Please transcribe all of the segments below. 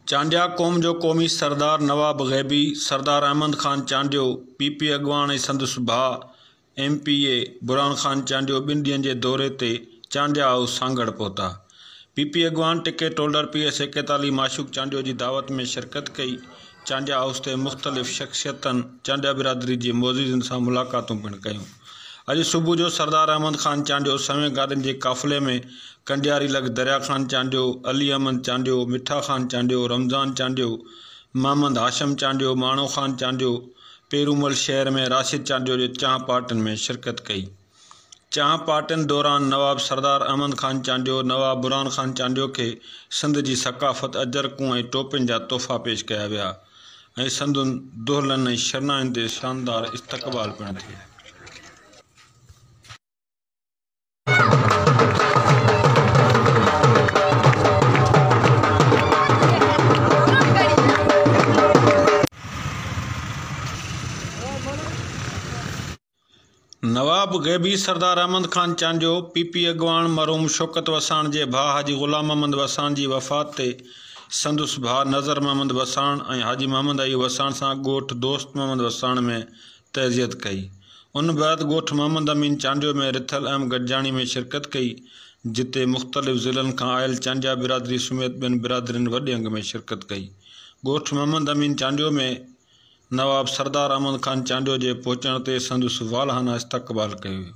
چانڊيا قوم جو قومي سردار نواب غيبي، سردار احمد خان چانڊيو، پي پي اڳواڻ ۽ سندس ڀاء M P A Burhan Khan Chandio ٻن ڏينهن جي دوري تي چانڊيا هائوس سانگهڙ پهتا، پي پي اڳواڻ ٽڪيٽ هولڊر پي ايس ايڪيتالي معشوق چانڊيو جي دعوت ۾ شرڪت ڪئي، چانڊيا هائوس تي مختلف شخصيتن چانڊيا برادري جي معززين سان ملاقاتون پڻ ڪيون، اڄ صبح جو سردار احمد خان چانڊيو سوين گاڏين جي قافلي ۾ ڪنڊياري لڳ دريا خان چانڊيو، علي احمد چانڊيو، مٺا خان چانڊيو، رمضان چانڊيو، محمد هاشم چانڊيو، ماڻو خان چانڊيو، پيرومل شهر ۾ راشد چانڊيو جي چانهه پارٽين ۾ شرڪت ڪئي. چانهه پارٽين دوران نواب سردار احمد خان چانڊيو نواب برهان خان چانڊيو کي سنڌ جي ثقافت، اجرڪون ۽ ٽوپين جا تحفا پيش ڪيا ويا ۽ سندن دهلن ۽ شرناين تي شاندار استقبال پڻ ٿيو. نواب غيبي سردار احمد خان چانڊيو، پي پي اڳواڻ مرحوم شوڪت وساڻ جي ڀاء حاجي غلام محمد وساڻ جي وفات تي سندس ڀاء نظر محمد وساڻ ۽ حاجي محمد ايوب وساڻ سان ڳوٺ دوست محمد وساڻ ۾ تعزيت ڪئي. ان بعد ڳوٺ محمد امين چانڊيو ۾ رٿل اهم گڏجاڻي ۾ شرڪت ڪئي، جتي مختلف ضلعن کان آيل چانڊيا برادري سميت ٻين برادرين وڏي انگ ۾ شرڪت ڪئي. ڳوٺ محمد امين چانڊيو ۾ نواب سردار احمد خان چانڊيو جي پهچڻ تي سندس والهانه استقبال ڪيو ويو.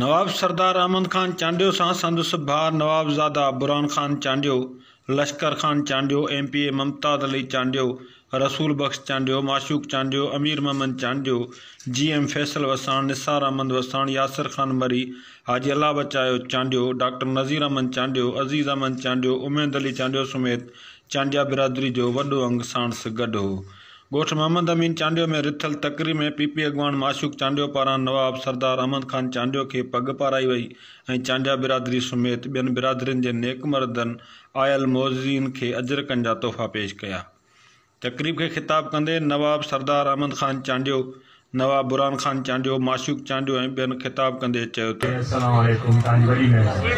نواب سردار احمد خان چانڊيو سان سندس ڀاء نوابزاده Burhan Khan Chandio, Lashkar Khan Chandio, M P A Mumtaz Ali Chandio, Rasool Bakhsh Chandio, Mashooq Chandio, Ameer Muhammad Chandio, G M Faisal Wassan, Nisar Ahmed Wassan, Yasir Khan Marri, Haji Allah Bachayo Chandio, doctor Nazir Ahmed Chandio, Aziz Ahmed Chandio, Umeed Ali Chandio سميت چانڊيا برادري جو وڏو انگ ساڻس گڏ ھو. ڳوٺ محمد امين چانڊيو ۾ رٿل تقريب ۾ پي پي اڳواڻ معشوق چانڊيو پاران نواب سردار احمد خان چانڊيو کي پڳ پارائي وئي ۽ چانڊيا برادري سميت ٻين برادرين جي نيڪ مردن آيل معززين کي اجرڪن جا تحفا پيش ڪيا تقريب کي خطاب ڪندي نواب سردار احمد خان چانڊيو نواب برھان خان چانڊيو، معشوق چانڊيو ۽ ٻين خطاب ڪندي چيو ته. السلام عليڪم توهانجي وڏي مهرباني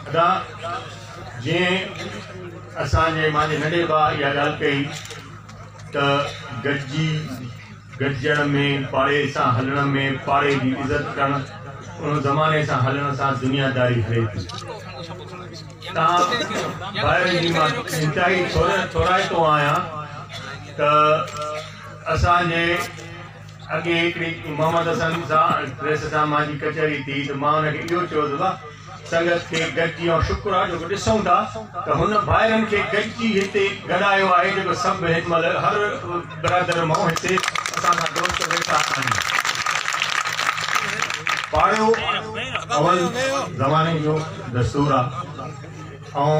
ادا جئين اسان جي مانجي ننڍي ڀاء اها ڳالهه ڪئي ته گڏجي گڏجڻ ۾ پاڙي سان هلڻ ۾ پاڙي جي عزت ڪرڻ ان زماني سان هلڻ سان دنيا داري هلي ٿي تان ڀائرن جي مان انتهائي ٿورائتو آهيان. ته اسان جي اڳي هڪڙي محمد حسن سان پريس سان مان جي ڪچهري ٿي ته مان هن کي اهو چيو ته واهه سنگت کي گڏجي ۽ شڪر آهي جو ڪو ڏسون ٿا ته هن ڀائرن کي گڏجي هتي گڏايو آهي جيڪو سڀ هن مهل هر برادر مئو هتي اسان سان دوست ويٺا آهن. پاڙو اول زماني جو دستور آهي ۽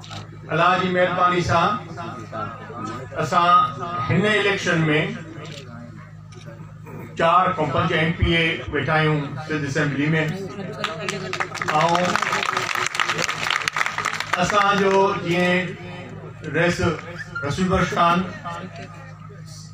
الله جي مهرباني سان اسان هن اليڪشن ۾ چار کان پنج ايم پي اي ويٺا آهيون سنڌ اسيمبلي ۾ ۽ اسان جو جيئن رئيس رسول بخش خان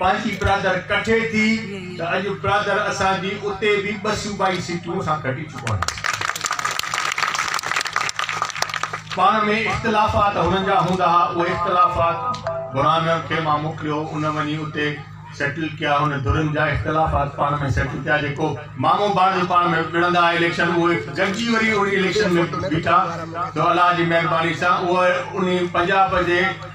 پنهنجي برادر ڪٺي ٿي ته اڄ برادر اسان جي اتي به ٻه صوبائي سيٽون اسان کٽي چڪا آهن. پاڻ ۾ اختلافات هنن جا هوندا ها، اهي اختلافات برهان کي مان موڪليو، ان وڃي اتي سيٽل ڪيا، هن ڌرين جا اختلافات پاڻ ۾ سيٽل ڪيا، جيڪو مامو ڀاڻيجو پاڻ ۾ وڙهندا ها اليڪشن، اهي گڏجي وري ان اليڪشن ۾ بيٺا، سو الله جي مهرباني سان اهي انهي پنجاب جي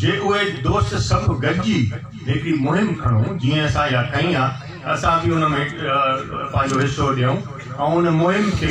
جي اهي دوست سڀ گڏجي هڪڙي مهم کڻون جيئن اسان اها کنئي آ ته اسان به ان ۾ پنهنجو حصو ڏيون ۽ ان مهم کي